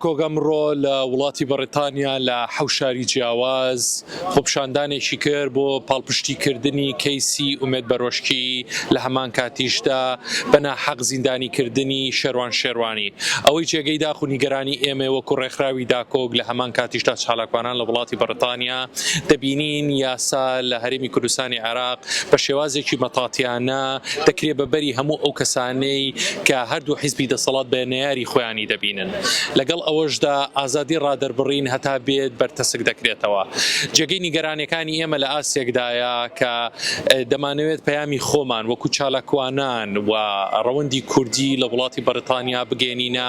کۆگا مڕۆ لە وڵاتی بەڕێتانیا لە حەوشاری جیاواز خۆپشاندانێکی کرد بۆ پاڵپشتیکردنی کەیسی ئومێد بەرۆشکی لە هەمان کاتیشدا بەنا حەق زیندانیکردنی شەروان شێوانی ئەوەی جێگەی داخ و نیگەرانی ئێمە وەکو ڕێکخراوی داکۆک لە هەمان کاتیشدا چالاکوانان لە وڵاتی بەڕتانیا دەبینین یاسا لە هەرێمی کوردستانی عێراق بە شێوازێکی مەتاتیانە دەکرێ بە بەری هەموو ئەو کەسانەی کە هەردوو حیزبی دەسەڵات بە نەیاری خۆیانی دەبینن. لەگەڵ ئەوەشدا ئازادی ڕادەربڕین هەتا بێت بەرتەسک دەکرێتەوە. جێگەی نیگەرانیەکانی ئێمە لە ئاستێکدایە کە دەمانەوێت پەیامی خۆمان وەکو چالاکوانان و ڕەوەندی کوردی لە وڵاتی بەریتانیا بگەیەنینە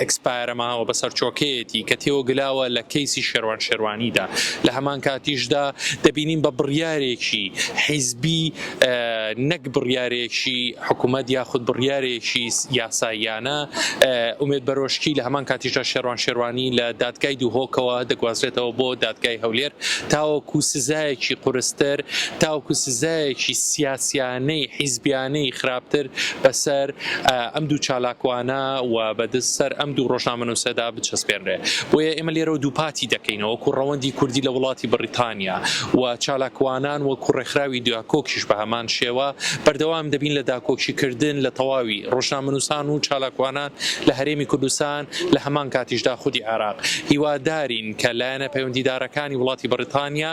ئێکسپایەرە ماوە بە سەرچۆکەیەتی کە تێوەگلاوە لە کەیسی شێروان شێروانیدا لە هەمان کاتیشدا دەبینین بە بڕیارێکی حیزبی نەک بڕیارێکی حکوومەت یاخود بڕیارێکی یاساییانە ئومێد بەرۆشکی لە هەمان کاتیشدا شێروان شێروانی لە دادگای دووهۆکەوە دەگوازرێتەوە بۆ دادگای هەولێر تاوەکو سزایەکی قورستر تاوکو سزایەکی سیاسیانەی حیزبیانەی خراپتر بەسەر ئەم دوو چالاکوانە و بەدز سەر ئەم دوو ڕۆژنامەنووسەدا بچەسپێنرێ. بۆیە ئێمە لێرەوە دووپاتی دەکەینەوە وەکوو ڕەوەندی کوردی لە وڵاتی بڕیتانیا و چالاکوانان وەکوو ڕێکخراوی داکۆکیش بە هەمان شێوە بەردەوام دەبین لە داکۆکی کردن لە تەواوی ڕۆژنامەنووسان و چالاکوانان لە هەرێمی کوردستان لە هەمان کاتیشدا خودی عێراق هیوادارین کە لایەنە پەیوەندیدارەکانی وڵاتی بڕیتانیا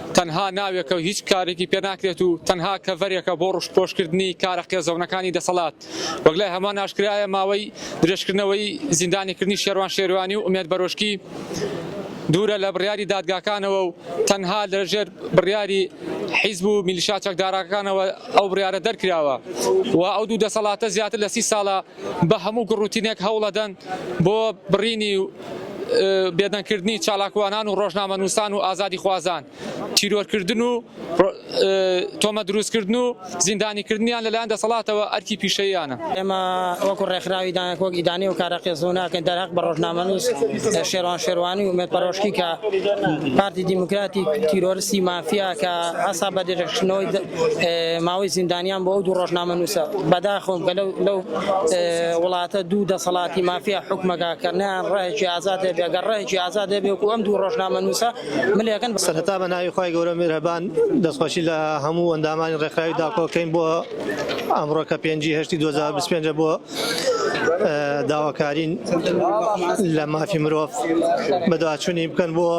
تەنها ناوێکە و هیچ کارێکی پێ ناکرێت و تەنها کەڤەرێکە بۆ ڕوشتپۆشکردنی کارە قێزەونەکانی دەسەڵات. وەک لای هەمان ئاشکرایە ماوەی درێژکردنەوەی زیندانیکردنی شێروان شێروانی و ئومێد بەرۆشکی دوورە لە بڕیاری دادگاکانەوە و تەنها لە ژێر بڕیاری حیزب و میلیشا چەکدارەکانەوە ئەو بڕیارە دەرکراوە و ئەو دوو دەسەڵاتە زیاتر لە سی ساڵە بە هەموو گوڕ و تینێک هەوڵەدەن بۆ بڕینی و بێدەنگ کردنی چالاکوانان و ڕۆژنامەنووسان و ئازادیخوازان، تیرۆر کردن و تۆمەت دروست کردن و زیندانی کردنیان لەلایەن دەسەڵاتەوە ئەرکی پیشەییانە. ئێمە وەکو ڕێکخراوی دانک وەک ئیدانەی و کارە قێزەون ناکەین دەرهەق بە ڕۆژنامەنووس شێروان شێروانی و ئومێد پەرۆشکی کە پارتی دیموکراتی تیرۆرستی مافیا کە ئەسا بە درێژکردنەوەی ماوەی زیندانیان بۆ ئەو دوو ڕۆژنامەنووسە بەداخەوەم کە لەو وڵاتە دوو دەسەڵاتی مافیا حکومەکە کە نیان ڕێکی ئازاد هەبێ گەر ڕێکی ئازاد هەبێ و ئەم دوو ڕۆژنامەنووسە ملێکن سەرەتا بە ناوی خی گەورە میرهبان دەستخۆشی لە هەموو ئەندامانی ڕێکخراوی داکۆکەین بۆ ئەمڕۆ کە پێنجی هەشتی 2025 بۆ داواکارین لە مافی مرۆڤ بەدواچوونی بکەن بۆ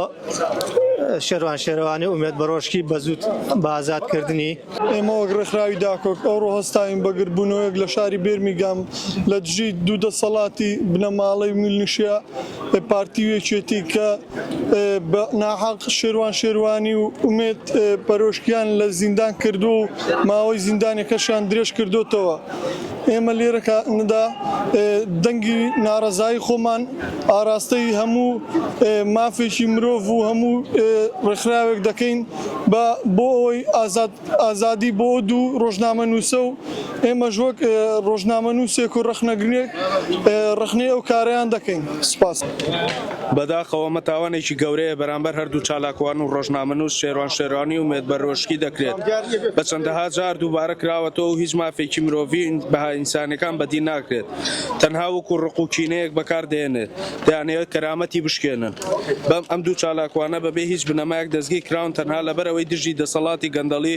شێروان شێروانی ئومێد بەڕۆژکی بە زووت بە ئازاد کردنی. ئێمە وەک ڕێکخراوی داکۆک ئەوڕۆ هەستاوین بە گردبوونەوەیەک لە شاری بێرمیگام لە دژی دوو دەسەڵاتی بنەماڵەی میلنشیا پارتی و یەکێتی کە بە ناحەق شێروان شێروانی و ئومێد بەرۆژکیان لە زیندان کردووە و ماوەی زیندانیەکەشیان درێژ کردۆتەوە. ئێمە لێرە کە ندا دەنگی ناڕەزایی خۆمان ئاراستەی هەموو مافێکی مرۆڤ و هەموو ڕێکخراوێک دەکەین بە بۆ ئەوەی ئازاد ئازادی بۆ دوو ڕۆژنامە نووسە و ئێمەش وەک ڕۆژنامە نووسێک و ڕەخنەگرێک ڕەخنەی ئەو کارەیان دەکەین. سپاس. بەداخەوە ئەمە تاوانێکی گەورەیە بەرامبەر هەردوو چالاکوان و رۆژنامەنووس شێروان شێروانی و مێد بەرۆشکی دەکرێت بە چەندەها جار دووبارە کراوەتەوە و هیچ مافێکی مرۆڤی و بەها ئینسانیەکان بەدی ناکرێت تەنها وەکو رق و کینەیەک بەکار دەهێنێت دەیانەوێت کەرامەتی بشکێنن بەم ئەم دوو چالاکوانە بەبێ هیچ بنەمایەک دەستگیر کراون تەنها لەبەر ئەوەی دژی دەسەڵاتی گەندەڵی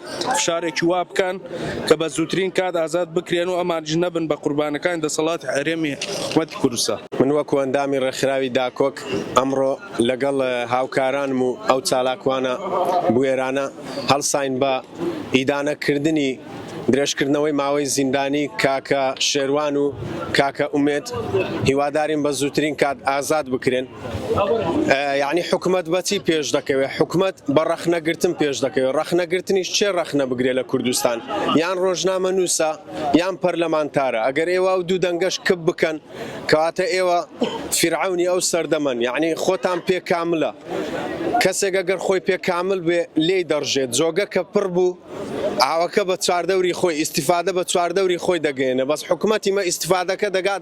فشارێکی وا بکەن کە بە زووترین کات ئازاد بکرێن و ئەمانیش نەبن بە قوربانەکانی دەسەڵاتی هەرێمی حکومەتی کوردستان. من وەکو ئەندامی ڕێکخراوی داکۆک ئەمڕۆ لەگەڵ هاوکارانم و ئەو چالاکوانە بوێرانە هەڵساین بە ئیدانە کردنی درێژکردنەوەی ماوەی زیندانی کاکە شێروان و کاکە ئومێد هیوادارین بە زووترین کات ئازاد بکرێن. یەعنی حکومەت بەچی پێش دەکەوێت حکومەت بە ڕەخنە گرتن پێش دەکەوێت ڕەخنە گرتنیش چێ ڕەخنە بگرێ لە کوردستان یان ڕۆژنامە نووسە یان پەرلەمانتارە ئەگەر ئێوە و دوو دەنگەش کپ بکەن کەواتە ئێوە فیرعونی ئەو سەردەمەن یعنی خۆتان پێ کاملە کەسێکە گەر خۆی پێ کامل بێ لێی دەڕژێت جۆگە کە پڕ بوو ئاوەکە بە چواردەوری خۆی ئیسیفادە بە چواردەوری خۆی دەگەێنە بەس حکوومەتی مە ئیسیفادەکە دەگات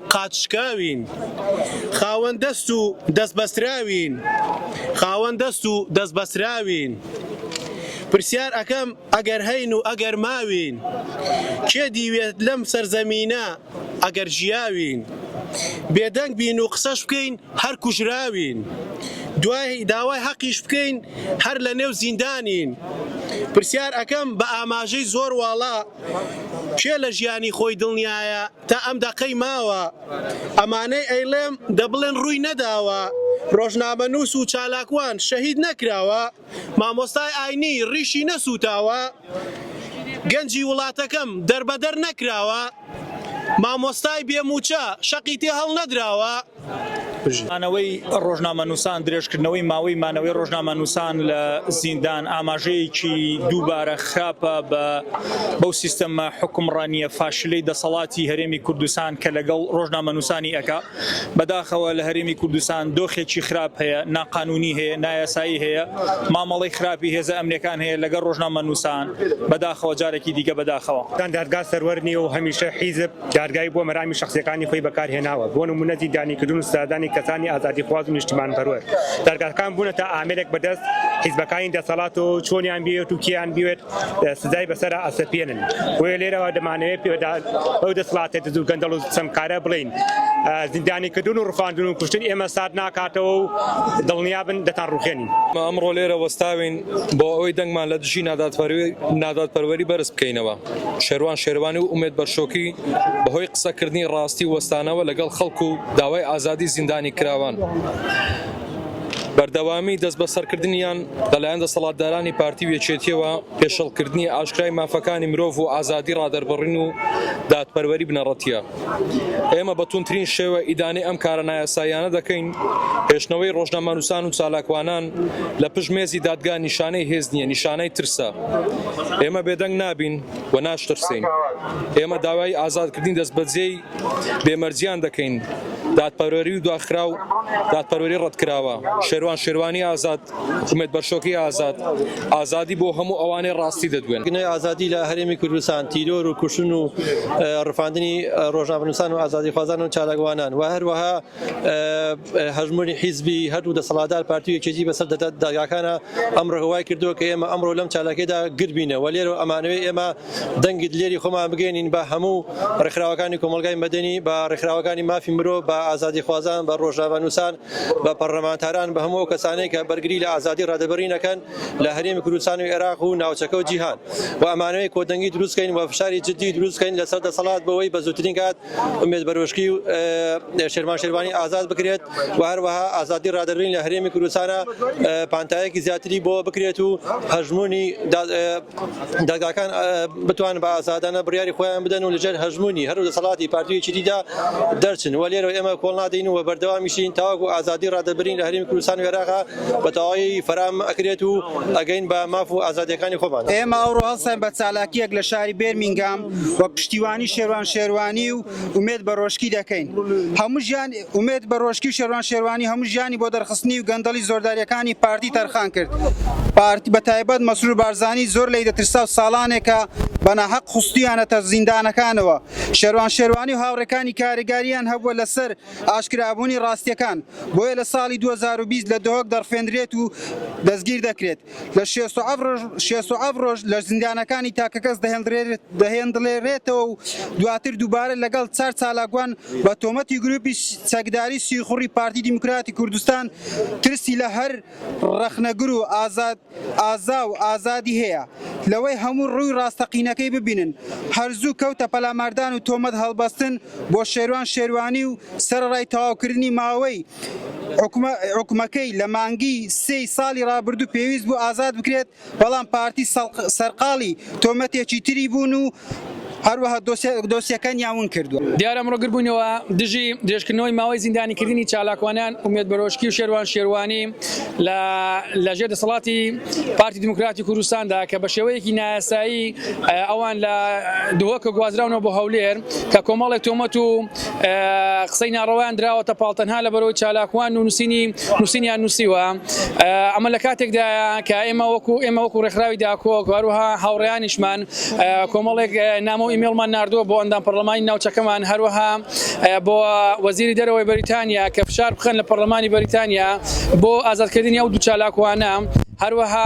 قاچشکاوین، خاوەن دەست و دەست بەستراوین، خاوەن دەست و دەست بەستراوین، پرسیار ئەکەم ئەگەر هەین و ئەگەر ماوین، کێ دیوێت لەم سەرزەمینە ئەگەر ژیاوین، بێدەنگ بین و قسەش بکەین هەر کوژراوین، دوای داوای هەقیش بکەین هەر لە نێو زیندانین، پرسیار ئەکەم بە ئاماژەی زۆر واڵا، کێ لە ژیانی خۆی دڵنیایە، تا ئەم دەقەی ماوە ئەمانەی ئەیڵێم دەبڵێن ڕووی نەداوە ڕۆژنامەنووس و چالاکوان شەهید نەکراوە مامۆستای ئاینی ڕیشی نەسووتاوە گەنجی وڵاتەکەم دەربەدەر نەکراوە مامۆستای بێمووچە شەقی تێ هەڵنەدراوە مانەوەی ڕۆژنامەنووسان، درێژکردنەوەی ماوەی مانەوەی ڕۆژنامەنووسان لە زیندان ئاماژەیەکی دووبارە خراپە بە بەو سیستەمە حوکمڕانییە فاشلەی دەسەڵاتی هەرێمی کوردستان کە لەگەڵ ڕۆژنامەنووسانی ئەکا. بەداخەوە لە هەرێمی کوردستان دۆخێکی خراپ هەیە، ناقانوونی هەیە، نایاسایی هەیە، مامەڵەی خراپی هێزە ئەمنییەکان هەیە لەگەڵ ڕۆژنامەنووسان. بەداخەوە جارێکی دیکە بەداخەوە. دادگا سەروەر نییە و هەمیشە حیزب. دادگای بۆ مەرامی شەخسیەکانی خۆی بەکار هێناوە، بۆ نمونە زیندانی کردن و سزادانی کەسانی ئازادیخواز و نیشتمانپەروەر. دادگاکان بونەتە ئامێرێک بەدەست حیزبەکانی دەسەڵات و چۆنیان بیەوێت و کێیان بیەوێت سزای بەسەرا ئەسەپێنن. بۆیە لێرەوە دەمانەوێت بەو دەسڵاتە دز و گەندەڵ و ستەمکارە بڵێین زیندانی کردن و ڕفاندن و کوشتن ئێمە سارد ناکاتەوە و دڵنیابن دەتان ڕوخێنین. ئەمڕۆ لێرە وەستاوین بۆ ئەوەی دەنگمان لە دژی نادادپەروەری بەرز بکەینەوە. شێروان شێروانی و ئومێد بەرشۆکی بەهۆی قسەکردنی ڕاستی وەستانەوە لەگەڵ خەڵک و داوای ئازادی زیندانیکراوان، بەردەوامی دەستبەسەرکردنیان لەلایەن دەسەڵاتدارانی پارتی و یەکێتییەوە پێشێڵکردنی ئاشکرای مافەکانی مرۆڤ و ئازادی ڕادەربڕین و دادپەروەری بنەڕەتییە. ئێمە بە توندترین شێوە ئیدانەی ئەم کارە نایاساییانە دەکەین، هێشتنەوەی ڕۆژنامەنووسان و چالاکوانان لە پشت مێزی دادگا نیشانەی هێز نییە، نیشانەی ترسە. ئێمە بێدەنگ نابین و ناشترسێین. ئێمە داوای ئازادکردنی دەستبەجێی بێ مەرجیان دەکەین، دادپەروەری و دواخراو، دادپەروەری ڕەتکراوە، شێروان شێروانی ئازاد، حکومەت بەرشۆکی ئازاد، ئازادی بۆ هەموو ئەوانەی ڕاستی دەدوێن. گنەی ئازادی لە هەرێمی کوردستان، تیرۆر و کوشتن و ڕفاندنی ڕۆژنامەنووسان و ئازادیخوازان و چالاکوانان و هەروەها هەژموونی حیزبی هەردوو دەسەڵاتدار پارتی و یەکێتی بەسەر دادگاکانا ئەمڕۆکە وای کردووە کە ئێمە ئەمڕۆ لەم چالاکیەدا گرد بینە و لێرەوە ئەمانەوێ ئێمە دەنگی دلێری خۆمان بگەیەنین بە هەموو ڕێکخراوەکانی کۆمەڵگای مەدەنی، بە ڕێکخراوەکانی مافی مرۆڤ، بە ئازادیخوازان، بە ڕۆژنامەنووسان، بە پەڕلەمانتاران، بە هەموو ئەو کەسانەی کە بەرگری لە ئازادی ڕادەبەرین ئەکەن لە هەرێمی کوردستان و ئێراق و ناوچەکە و جیهان و ئەمانەوێ کۆدەنگی دروست کەین و فشاری جدی دروست کەین لە سەر دەسەڵات بۆ وەی بە زووترین کات ئومێد بەرۆشکی و شێرمان شێروانی ئازاد بکرێت و هەروەها ئازادی ڕادەبەرین لە هەرێمی کوردستانا پانتایەکی زیاتری بۆ بکرێت و هەژموونی دەزگاکان بتوانن بە ئازادانە بڕیاری خۆیان بدەن و لەژێر هەژموونی هەر دەسەڵاتی پارتی و یەکێتیدا دەرچن و لێرەوە ئێمە کۆڵ نادەین و بەردەوامیشین تاوەکو ئازادی ڕادەربرین لە هەرێمی کوردستان و ئێراقا بە تەواوی فەرام ئەکرێت و ئەگەین بە ماف و ئازادییەکانی خۆمان. ئێمە ئەوڕۆ هەڵساین بە چالاکییەک لە شاری بێرمینگام وەک پشتیوانی شێروان شێروانی و ئومێد بەرۆشکی دەکەین هەموو ژیان ئومێد بەرۆشکی و شێروان شێروانی هەموو ژیانی بۆ دەرخستنی و گەندەڵی زۆرداریەکانی پارتی تەرخان کرد پارتی بە تایبەت مەسرور بارزانی زۆر لی دەترسا و ساڵانێکە بەناهەق خستویانەتە زیندانەکانەوە شێروان شێروانی و هاوڕێکانی کاریگاریان هەبووە لەسەر ئاشکرابوونی ڕاستیەکان بۆیە لە ساڵی 2020 لە دهۆک دەڕفێندرێت و دەستگیر دەکرێت. لە شێست و حەفت ڕۆژ شێست و حەفت ڕۆژ لە زیندانەکانی تاکەکەس دەهێندرێت دەهێندلێرێتەوە و دواتر دووبارە لەگەڵ چار چالاکوان بە تۆمەتی گرووپی چەکداری سیخوڕی پارتی دیموکراتی کوردستان ترسی لە هەر ڕەخنەگر و ئازاد ئازا و ئازادی هەیە لەوەی هەموو ڕووی ڕاستەقینەکەی ببینن هەر زوو کەوتە پەلاماردان و تۆمەت هەڵبەستن بۆ شێروان شێروانی و سەرەڕای تەواوکردنی ماوەی حوکمەکەی لە مانگی سێی ساڵی رابردوو پێویست بوو ئازاد بکرێت، بەڵام پارتی سەرقاڵی تۆمەتێکی تری بوون و هەروەها دۆسیەکانیان ون کردووە. دیارە ئەمڕۆ گردبوونەوە دژی درێژکردنەوەی ماوەی زیندانیکردنی چالاکوانان ئومێد بەرۆشکی و شێروان شێروانی لە لە ژێر دەسەڵاتی پارتی دیموکراتی کوردستاندا کە بە شێوەیەکی نایاسایی ئەوان لە دهۆکە گوازراونەوە بۆ هەولێر. کە کۆمەڵێک تۆمەت و قسەی ناڕەوایان دراوەتە پاڵ تەنها لە بەرەوەی چالاکوان و نووسینی نووسینیان نووسیوە ئەمە لە کاتێکدایە کە ئێمە وەکو ئێمە وەکو ڕێکخراوی داکۆک هەروها هاوڕیانیشمان کۆمەڵێک نامۆ ئیمێڵمان نردووە بۆ ئەندام پەرلەمانی ناوچەکەمان هەروها بۆ وەزیری دەرەوەی بەریتانیا کە فشار بخەن لە پەرلەمانی بەریتانیا بۆ ئازادکردنی ئەو دوو چالاکوانە هەروەها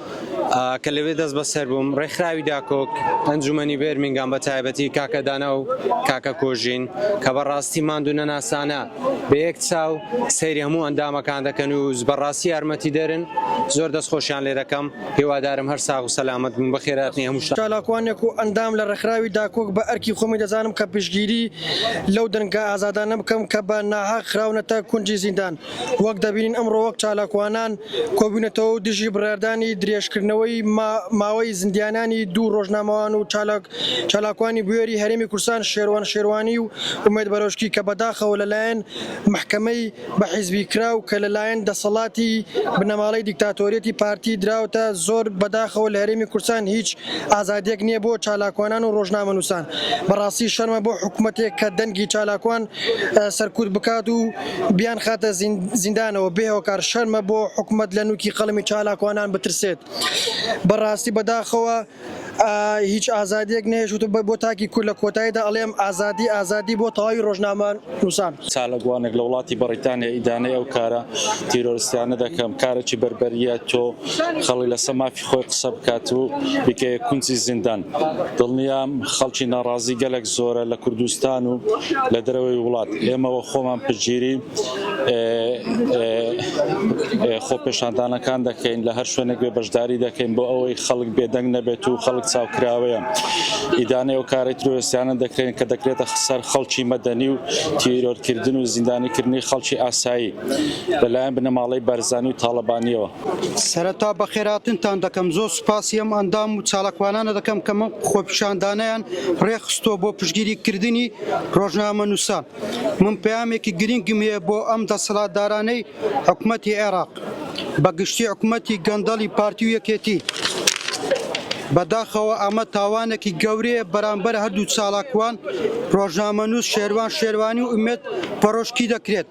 کە لەوێ دەست بەسەر بووم ڕێکخراوی داکۆک ئەنجومەنی بێرمینگام بە تایبەتی کاکە دانا و کاکە کۆژین کە بەڕاستی ماندوو نەناسانە بە یەک چاو سەیری هەموو ئەندامەکان دەکەن و بەڕاستی یارمەتی دەرن زۆر دەست خۆشیان لێ دەکەم هیوادارم هەر ساغ و سەلامەت بن بەخێراتنی هەموو شتان. چالاکوانێک و ئەندام لە ڕێکخراوی داکۆک بە ئەرکی خۆمی دەزانم کە پشتگیری لەو دەنگە ئازادانە بکەم کە بە ناحەق خراونەتە کونجی زیندان. وەک دەبینین ئەمڕۆ وەک چالاکوانان کۆبوینەتەوە و دژی بڕیاردانی درێژکردنەوەی ماوەی زیندیانانی دوو ڕۆژنامەوان و چالاکوانی بوێری هەرێمی کوردستان شێروان شێروانی و ئومێد بەرۆشکی کە بەداخەوە لەلایەن مەحکەمەی بە حیزبی کراو کە لەلایەن دەسەڵاتی بنەماڵەی دیکتاتۆریەتی پارتی دراوەتە زۆر بەداخەوە لە هەرێمی کوردستان هیچ ئازادیەک نیە بۆ چالاکوانان و ڕۆژنامەنوسان بەڕاستی شەرمە بۆ حکومەتێک کە دەنگی چالاکوان سەرکوت بکات و بیان خاتە زیندانەوە بێ هۆکار شەرمە بۆ حکومەت لە نوکی قەڵمی چالاکوانان بترسێت بەڕاستی بەداخەوە هیچ ئازادیەک نێشوت بە بۆ تاکی کور لە کۆتاییدا ئەڵێم ئازادی ئازادی بۆ تەواوی ڕۆژنامە نووسان چالاکوانێک لە وڵاتی بەڕیتانیا ئیدانەی ئەو کارە تیرۆرستیانە دەکەم کارەی بەربەریە تۆ خەڵی لەسە مافی خۆی قسە بکات و بیکەیە کونجی زیندان. دڵنیام خەڵکی ناڕازی گەلەک زۆرە لە کوردستان و لە دەرەوەی وڵات. ئێمە وە خۆمان پشتگیری خۆپێشاندانەکان دەکەین، لە هەر شوێنێک بێ بەشداری دەکەین بۆ ئەوەی خەڵک بێدەنگ نەبێت و خەڵک چاوکراوەیە. ئیدانەی ئەو کارە تیرۆرستیانە دەکرێن کە دەکرێتە سەر خەڵکی مەدەنی و تیرۆرکردن و زیندانیکردنی خەڵکی ئاسایی لە لایەن بنەماڵەی بارزانی و تاڵەبانییەوە. سەرەتا بەخێرهاتنتان دەکەم، زۆر سوپاسی ئەم ئەندام و چالاکوانانە دەکەم کە ئەم خۆپیشاندانەیان ڕێکخستووە بۆ پشتگیریکردنی ڕۆژنامەنووسان. من پەیامێکی گرنگم هەیە بۆ ئەم دەسەڵاتدارانەی حکومەتی عێراق، بەگشتی حکومەتی گەندەڵی پارتی و یەکێتی. بەداخەوە ئەمە تاوانێکی گەورەیە بەرامبەر هەردوو چالاکوان، ڕۆژنامەنووس شێروان شێروانی و ئومێد پەڕۆشکی دەکرێت.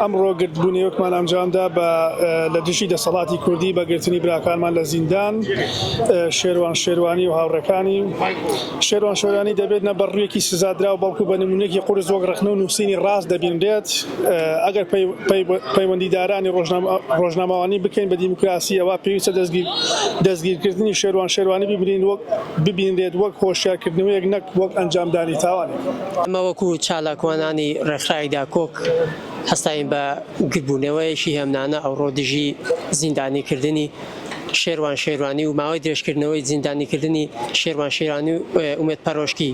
ئەمڕۆ گردبوونەوەکمان ئەنجامدا بە لە دژی دەسەڵاتی کوردی بە گرتنی براکانمان لە زیندان شێروان شێروانی و هاوڕەکانی شێروان شێرانی دەبێت نە بەڕوویەکی سزادرا و بەڵکو بە نمونێکی قرس وەک ڕخنە و نووسینی ڕاست دەبینرێت ئەگەر پەیوەندیدارانی ڕۆژنامەوانی بکەین بە دیموکراسی ئەوە پێویستە دەستگیر دەستگیرکردنی شێروان شێروانی ببینین وەک ببینرێت وەک هۆشیارکردنەوەیەک نەک وەک ئەنجامدانی تاوانێک. ئەمە وەکو چالاکوانانی ڕێکخراوی داکۆک هەستاین بە گردبوونەوەیەکی هێمنانە ئەوڕۆ دژی زیندانیکردنی شێروان شێروانی و ماوەی درێژکردنەوەی زیندانیکردنی شێروان شێرانی و ئومێد پەرۆشکی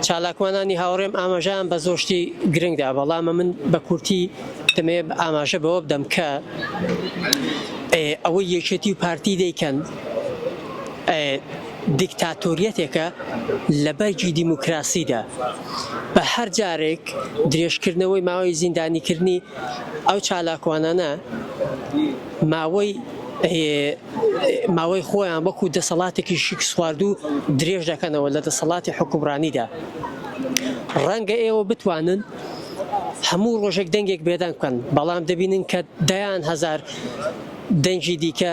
چالاکوانانی هاوڕێم ئاماژەیان بە زۆر شتی گرنگدا بەڵام من بە کورتی دەمێ ئاماژە بەوە بدەم کە ئەوەی یەکێتی و پارتی دەیکەن دیکتاتۆریەتێکە لە بەرگی دیموکراسیدا، بە هەر جارێک درێژکردنەوەی ماوەی زیندانیکردنی ئەو چالاکوانانە ماوەی خۆیان وەکو دەسەڵاتێکی شکستخواردوو درێژ دەکەنەوە لە دەسەڵاتی حوکمڕانیدا. ڕەنگە ئێوە بتوانن هەموو ڕۆژێک دەنگێک بێدەنگ بکەن، بەڵام دەبینن کە دەیان هەزار دەنگی دیکە،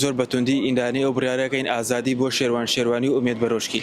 زۆر بە توندی ئیندانەی ئەو بڕیارە کەین ئازادی بۆ شێروان شێروانی و ئومێد بەرۆشکی.